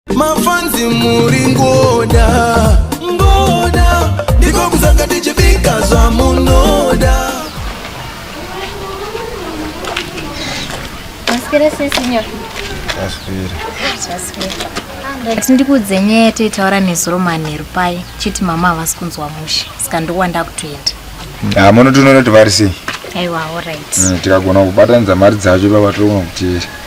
mafanzi muri ngoda ngoda ndiko kuzanga tichibika zvamunoda maswera sesinyo maswera maswera ati ndikuudze nyaya yataitaura nezuro manheru paye chiti mama havasi kunzwa mushe saka ndokuwa ndakutoenda ha munotoona kuti vari sei aiwa orit mm, tikagona kubatanidza mari dzacho ipapatirogona kuteera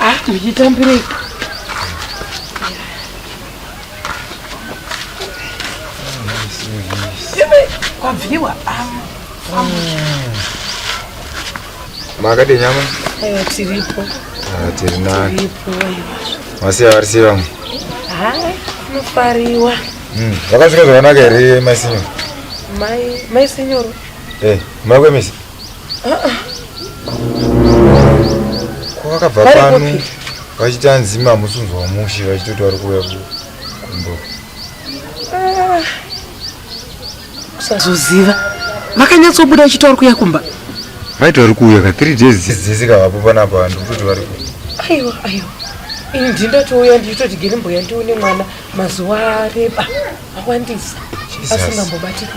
Ah, ndichitambirei. Kwabviwa. Ah. Makadii nyama? Ewa tiripo. Ah, tiri nani? Tiripo. Masiya vari sei vamwe? Ha, nofariwa. Mm, vakasvika zvakanaka here mai sinyoro? Mai, mai sinyoro. Eh, mai kwemisi? kwakabva pano vachiti anzi mamusunzi wamushe vachitoti vari kuuya kumbo ah. kusazoziva vakanyatsobuda vachiti vari kuuya kumba vaiti vari kuuya ka three days dzese kavapo panapa vanhu kutoti vari ku aiwa aiwa ini ndindatouya ndichitoti gere mbuya ndione mwana mazuva areba awandisa asingambobatika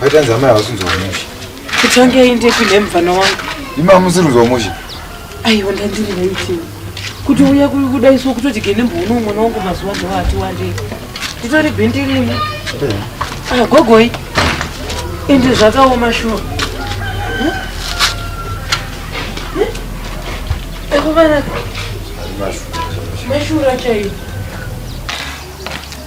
Waitanzi amai hausi kuzwa mushe. Kutange inde kune mvana wangu. Ima musiri kuzwa mushe. Aiwa ndandiri naiti. Kuti uya kuda isu kutoti gene mbono mwana wangu mazuva ndo ati wande. Nditori bindi rimwe. Ah gogoi. Inde zvakaoma shuwa. Eko vana. Mashura chaiyo.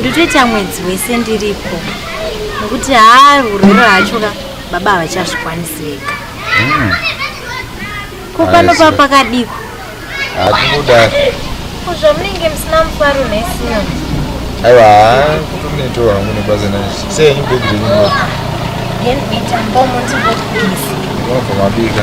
ndotoita mwedzi wese ndiripo nokuti haa urwere hacho ka baba havachazvikwanisi vega hmm. ko pano pa pakadiko hatikuda zvamunenge musina mufaro nesina aiwa haa kutoneto hangu nebasa nacho seyenyu bhegi renyu unobva mabika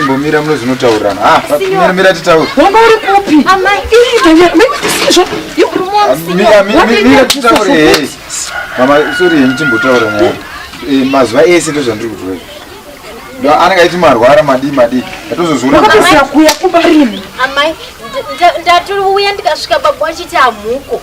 imbomira muno zvinotaurirana ah, mira titaure wanga uri kupi mira titaure mama sori henyu timbotaura naye eh, mazuva ese ndozvandiri kutoa ndo anenge aiti marwara madii madii atozozvionakuya kumba rini ndatouya ndikasvika baba wachiti hamuko